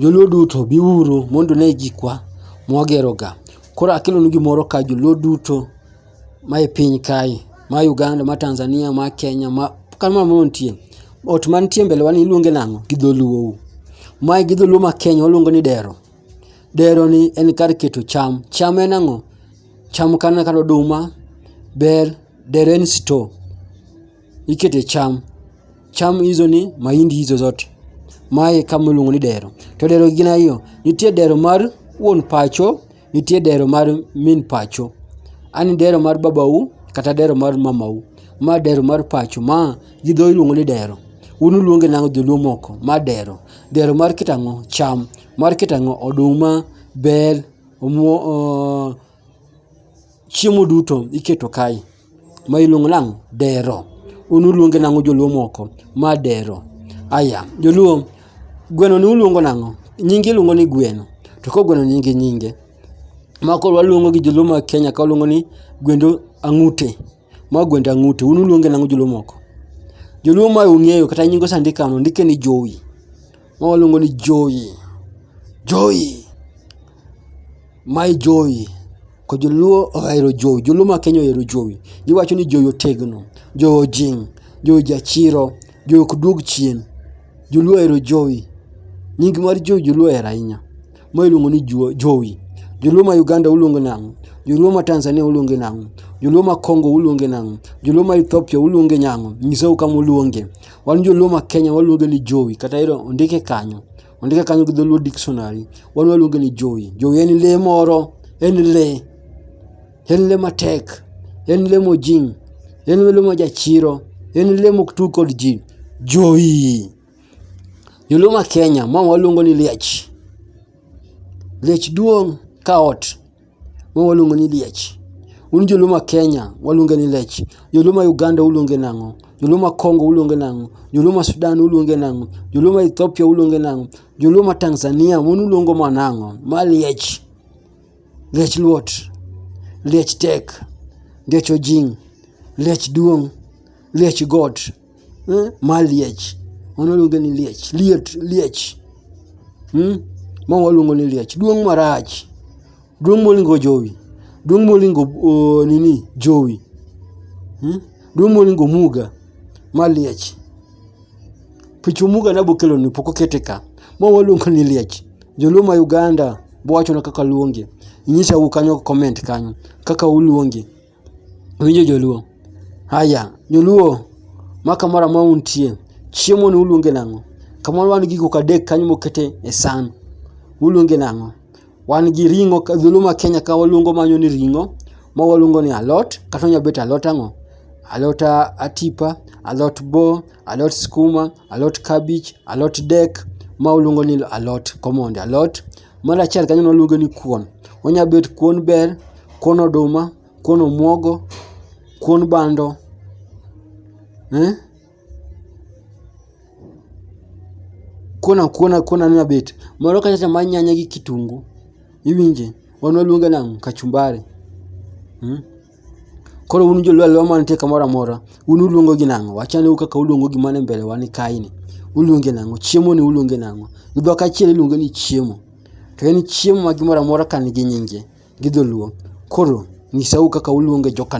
Joluo duto biuru mondo une gikwa mwageroga. Koro akelonu gimoro ka joluo duto mae piny kae, ma Uganda, ma Tanzania, ma Kenya, ma kata mana moro nitie. Ot mantie e mbele wa ni iluonge nang'o gi dholuo u? Mae gi dholuo ma Kenya waluonge ni dero. Dero ni en kar keto cham, cham en ang'o? Cham kata oduma, bel, dero en store. ikete cham. Cham hizo ni mahindi hizo zote. Mae kama iluongo ni dero. To dero gin ariyo. Nitie dero mar wuon pacho, nitie dero mar min pacho. An dero mar babau kata dero mar mamau. Ma dero mar pacho. Ma gi dho iluongo ni dero. Un uluonge nang'o joluo moko? Ma dero. Dero mar kitang'o cham. Mar kitang'o oduma, bel, omuo, uh, chiemo duto iketo kae. ma iluongo nang'o dero un uluonge nang'o joluo moko ma dero aya joluo gweno ni uluongo nang'o nyinge iluongo ni gweno to koro gweno nigi nyinge ma koro waluongo gi joluo ma Kenya ka waluongo ni gwend ang'ute ma gwend ang'ute un uluonge nang'o joluo moko joluo ma ung'eyo kata nyinge ose ndik kama ondike ni jowi ma waluongo ni jowi jowi Mae jowi, ko joluo ohero jowi, joluo ma Kenya ohero jowi. Giwacho ni jowi otegno, jowi ojiny, jowi jachiro, jowi ok duog chien. Joluo ohero jowi, nying mar jowi joluo ohero ahinya. Ma iluongo ni juo jowi. Joluo ma Uganda uluongo nang'o? Joluo ma Tanzania uluonge nang'o? Joluo ma Kongo uluonge nang'o? Joluo ma Ethiopia uluonge nang'o? Nyisau kama uluonge. Wan joluo ma Kenya waluonge ni jowi kata ero ondike kanyo. Ondike kanyo gi dholuo dictionary. Wan waluonge ni jowi. Jowi en lee moro, en lee. En lee matek, en lee mojing', en lee ma jachiro, en lee mok tug kod ji. Jowi! Joluo ma Kenya ma waluongo ni liech. Liech duong' ka ot. ma waluongo ni liech. Un joluo ma Kenya waluonge ni lech. Joluo ma Uganda uluonge nang'o? Joluo ma Congo uluonge nang'o? Joluo ma Sudan uluonge nang'o? Joluo ma Ethiopia uluonge nang'o? Joluo ma Tanzania un uluongo ma nang'o? Ma liech. Liech luot. Liech tek. Liech ojing'. Liech duong'. Liech got. eh, ma liech mano luonge ni liech liet liech hmm? ma waluongo ni liech duong' marach duong' molingo jowi duong' molingo uh, nini jowi hmm? duong' molingo muga ma liech pichu muga nabo kelo ni pok okete ka ma waluongo ni liech joluo ma uganda bwachona kaka luonge nyisa u kanyo comment kanyo kaka uluonge Winjo joluo. Aya, joluo ma kamoro amora untie, chiemo ni uluonge nang'o? Kamoro wan gi gik moko adek kanyo mokete e san. Uluonge nang'o? Wan gi ring'o, dholuo ma Kenya ka waluongo mano ni ring'o, ma waluongo ni alot, kata onyalo bet alot ang'o? Alot atipa, alot bo, alot skuma, alot kabich, alot dek, ma waluongo ni alot, common alot. Mar achiel kanyo ne waluonge ni kuon. Onya bet kuon bel, kuon oduma, kuon omuogo, kuon bando, eh? Kuon akuona kuon anya bet. Moro kacha cha mar nyanya gi kitungu. Iwinje? Wan waluonge nang'o? Kachumbari. Koro un jolwalwa mantie kamoro amora, un uluongo gi nang'o? Wachane u kaka uluongo gima ni mbele wa ni kae ni. Uluonge nang'o? Chiemo ni uluonge nang'o? Gi dhok achiel iluonge ni chiemo. To en chiemo ma gimoro amora ka nigi nyinge gi dholuo. Koro nyisa u kaka uluonge joka.